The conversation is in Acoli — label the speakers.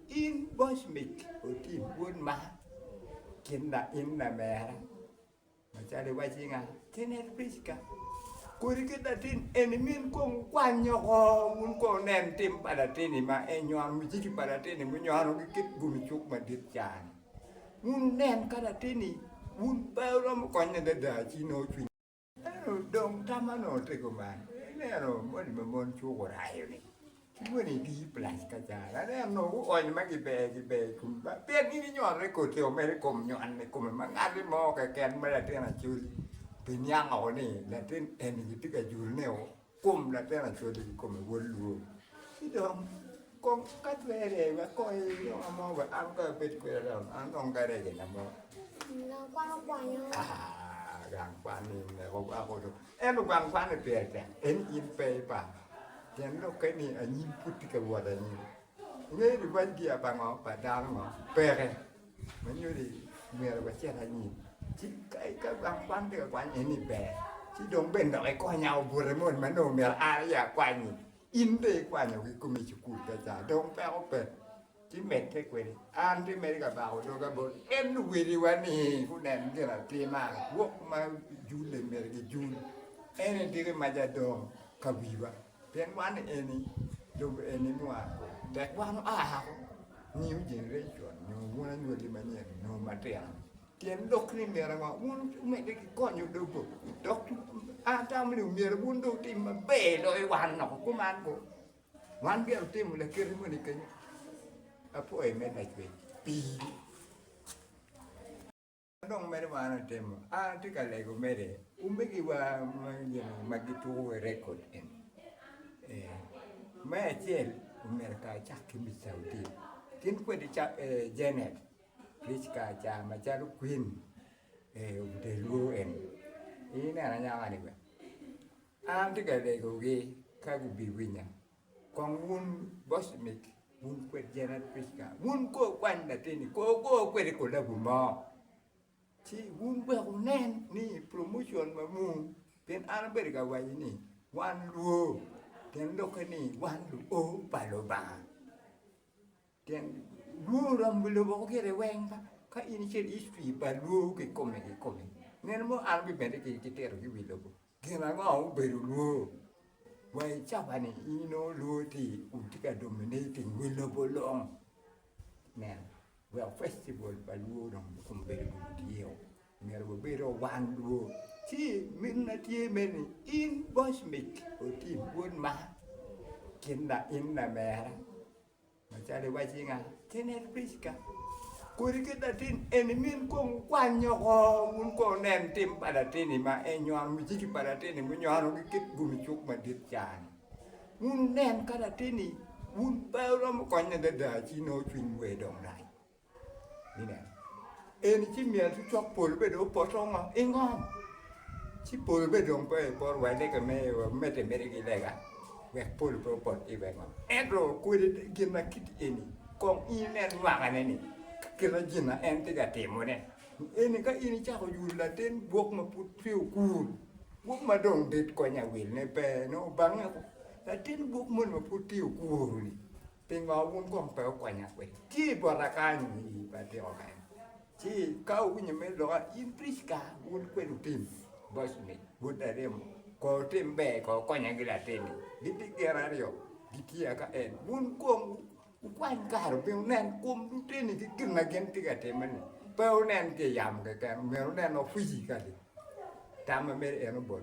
Speaker 1: In boc mic otim bot man, kit ma in lamera, macalo iwacci nga, kene en Pricka, kodi kit latin eni min kong wukwany oko, wun kong wunen tim pa latin-ni ma en nywano, mujiki pa latin-ni munywano ki kit gumi cuk madit ca-ni, wun wunen ka latin-ni wun pe wuromo konye adada ci nongo cwiny. Ento dong tam ma nongo te guman, ineno moni ma mon cuk orayo-ni ki moni dii plac ka ca, aneno nongo guony ma giber giber i kom Lwak pien gin ginyoane koti o mere i kom nyon i kome ma ngat-ti mo keken ma latin acoli obiniango ni latin eni gitye ka jurune o. Kom latin acwali kikome wod lwor ci dong kong ka twere wek kong iloka mo wek an kong abed kwede dong an dong garegina mo. Gang kwan
Speaker 2: okwanyo. Ah, gang
Speaker 1: kwan ni meko wako do. Ento gang kwan ni pire tek. En in pe ipa. Pien lok ke ni anyim pud tye ka wot anyim. Ingeyo ni waj gi abango pa dano ngo? Peke. Manyo ni myero wacit anyim, ci ka wan pe ka kwany ni ber, ci dong bene dok ikonya obuto moni ma nongo myero an aye akwanyi, in dong ikwanyo ki kumi i cukul ka ca dong peko pe, ci medde kwede. An ci medo ka bako doga bot en luwiliwa ni gunen gin atima rwok ma jule myero gijul, ene diki ma ja dong ka wiwa. Pien wan eni lobo eni mwa, tek wan oa ako, new generation nyo wun anywali manyen nyo matino, tyen lok ni myero ngo wun omedde ki konyo lobo dok an atamo ni myero wun dong wutim maber loyo wan loko kuman ngo, wan myero wutimo lakite moni kenyo, apwoyi me lacwec pii. Dong meno ma an atimo, an atye ka lego mere, omegiwa ma gituko ki rekod eni, me acel omyero kar acak ki mic ca otim, gin kwede Janet Rich kar ca macalo kwin otelwu eni, ineno anyaka-ni bene, an atye ka legogi ka gubiwinya Kong wun gocmik, wun kwed Janet Pritzker, wun kor kwany latinni, kor wugo kwede kolabu mo, ci wun wek wunen ni promotion ma mung, pien an abedo ka waco ni wan luo, pien lukke ni wan luo pa Lubanga. Tyen Luo oromo bi lobo ko gire weng ka, ka in icito i history pa Luo kikome kikome, nino mo an abimedde ki ki tito ki wi lobo, gin ango ma obedo Luo wa i caba ni in inongo Luo ti kun ti ka dominating wi lobo long, nen wek festival pa Luo dong okom bedo dong tye o, myero wabed o wan Luo, ci min na tye me ni in bocmik otim bot man, kin la in lamera. Macalo iwacci nga, tin en Pricka, kodi ki latin eni min kong wukwany oko, wun kong wunen tim pa latin-ni ma en nywano, mujiki pa latin-ni munywano ki kit gumi cuk madit ca-ni. Wun wunen ka latin-ni wun pe wuromo konye adada ci nongo cwinywu aye dong rac. Eni ci myel ci cok pol bene dong opoto i ngom ci pol bene dong pe epot wa lega me wa mede mede ki lega wek pol pe opot ki wa i ngom ento kodi gin ma kit eni kong in inen nywakane ni ki kit ma gin ma en tye ka timone ni eni ka in icako yuto latin gwok ma pud peya okur gwok ma dong dit kony awil ne pe nongo bange latin gwok moni ma pud peya okur-ri Pingo wun kong pe wukwanya kwede? Tye i bota kany i batiko kany, ci ka wuwinyo me loka, in Pricka, wun kwed wutim boc ni, Wod aremo, kong wutim ber, kong wukonya gi latin-ni. Gitye gin aryo, gitye aka en. Wun kong wukwany kare wubin wunen kom luteni ki gin ma gin tye ka timme-ni. Pe wunen ki i yamo keken, myero wunen ofwiji kadi tam ma myero en obol.